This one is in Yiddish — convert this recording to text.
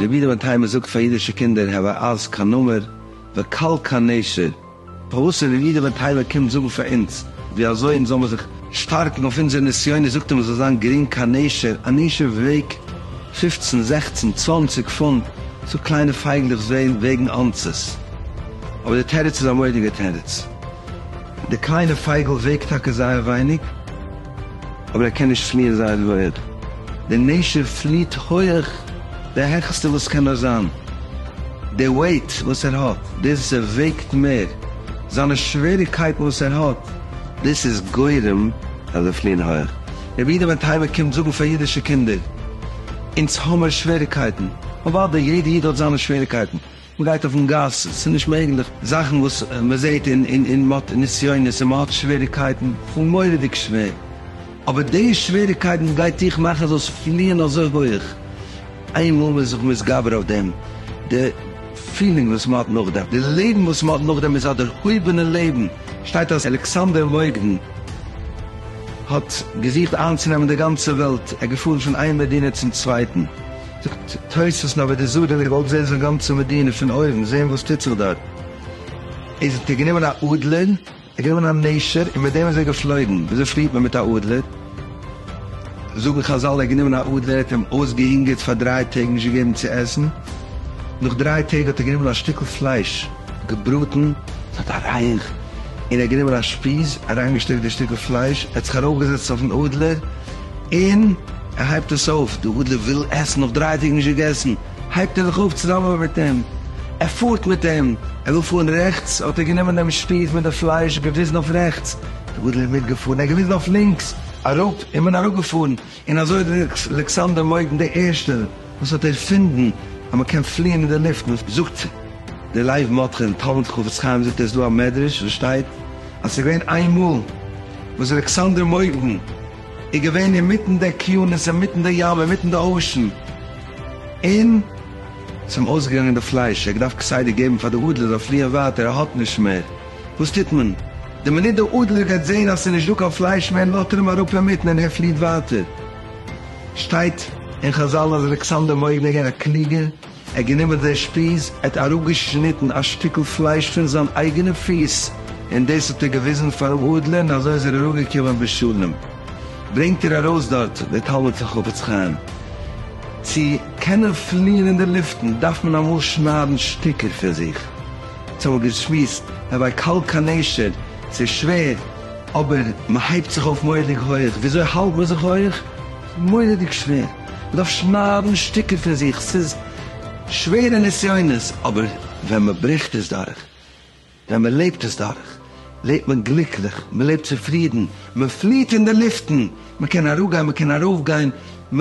רבי דוד היימער זאגט פאר אידישע קינדער הוה אז קיין נמר וקל קיין נשר. פארוואס רבי דוד היימער קומט זאגן פאר אונז ווי אזוי אונז זאל מיר זיך שטארקן אויף אונזער נסיונות זאגט ער מען זאל זיין גרינג קיין נשר, א נשר וועגט פופצן זעכצן צוואנציג פונט, סאו קליינע פייגלעך וועגן אונסעס. אבער די תירוץ איז א מוראדיגע תירוץ. דער קליינער פייגל וועגט טאקע זייער ווייניג, אבער ער קען נישט פליען זייער הויעך. דער נשר פליעט הויעך די העכסטע וואס קען נאר זיין. דער וועיט וואס ער האט, דאס וואס ער וועגט מער, זיינע שוועריגקייטן וואס ער האט, דאס איז גורם אז זיי פליען הויעך. רבי איד בן תימן קומט זאגן פאר אידישע קינדער, אונז האמיר שוועריגקייטן. אוודאי, יעדער איד האט זיינע שוועריגקייטן. מען גייט אויפן גאס, ס'איז נישט מעגליך, זאכן וואס מען זעט און און מען האט נסיונות און מען האט שוועריקייטן, פון מורא'דיג שווער, אבער די שוועריקייטן גייט דיך מאכן זאלסט פליען אזוי הויך, איינמאל מען איז זיך מתגבר אויף דעם, די פילינג וואס מען האט נאכדעם, די לעבן וואס מען האט נאכדעם איז א דערהויבענע לעבן, שטייט אז אלכסנדר מוקדון האט געזוכט איינצונעמען די גאנצע וועלט, ער איז געפארן פון איין מדינה צום צווייטן, זאגט תוס' אז ווען די זארען האט געוואלט זעהן זיין גאנצע מדינה פון אויבן, זעהן וואס טוט זיך דארט, איז ער גענומען א אדלער, ער האט גענומען א נשר און מיט דעם איז ער געפלויגן, וויאזוי פליעט מען מיט א אדלער? זאגן חזל ער האט גענומען א אדלער, ער האט אים אויסגעהונגערט פאר דריי טעג, נישט געגעבן צו עסן, נאך דריי טעג האט ער גענומען א שטיקל פלייש געבראטן, עס האט א רייך, און ער האט גענומען א שפיז, אריינגעשטעקט די שטיקל פלייש, ער האט זיך ארויפגעזעצט אויפן אדלער, און ער הייבט עס אויף, די אדלער וויל עסן, נאך דריי טעג נישט געגעסן, הייבט ער זיך אויף צוזאמען מיט אים, ער פארט מיט אים, ער וויל פארן רעכטס, האט ער גענומען דעם שפיז מיט די פלייש, געוויזן אויף רעכטס, די אדלער איז מיטגעפארן, ער האט געוויזן אויף לינקס, אראפ, און מען איז אראפגעפארן, און אזוי האט אלכסנדר מויגן דער ערשטער. וואס האט ערפינדן אז מען קען פליען אין די לופט, וואס זאגט די לייוו מאטכע אין תלמוד חפץ חיים זאגט ער איז דא א מדרש וואס שטייט אז ס'איז געווען איין מאל וואס אלכסנדר מוקדון איז געווען אינמיטן די אקיינוס אינמיטן די ים אינמיטן די אושען און ס'איז אים אויסגעגאנגען די פלייש ער האט געדארפט כסדר געבן פאר די אדלער זאל פליען ווייטער ער האט נישט מער וואס טוט מען די מינוט די אדלער גייט זעהן אז ס'איז נישט דא קיין פלייש מער לאזט ער אים אראפ אינמיטן און ער פליעט ווייטער. שטייט אין חזל אז אלכסנדר מורד איז געווען א קלוגער, ער האט גענומען זיין שפיז, ער האט אראפגעשניטן א שטיקל פלייש פון זיין אייגענע פיס, און דאס האט ער געוויזן פארן אדלער און אזוי איז ער אראפגעקומען בשלום. ברענגט ער ארויס דארט דער תלמיד פון חפץ חיים, צו קענען פליען אין די לופטן דארף מען אמאל שניידן שטיקער פון זיך, צו האבן געשמועסט אוודאי קל כנשר, ס'איז שווער, אבער מ'הייבט זיך אויף מורא'דיג הויעך, וויאזוי האלט מען זיך הויעך? מורא'דיג שווער, מ'דארף שניידן שטיקער פון זיך, ס'איז שווערע נסיונות, אבער ווען מ'ברעכט עס דורך, ווען מ'לעבט עס דורך, לעבט מען גליקליך, מ'לעבט צופרידן, מ'פליעט אין די לופטן, מ'קען אראפגיין, מ'קען ארויפגיין, מ.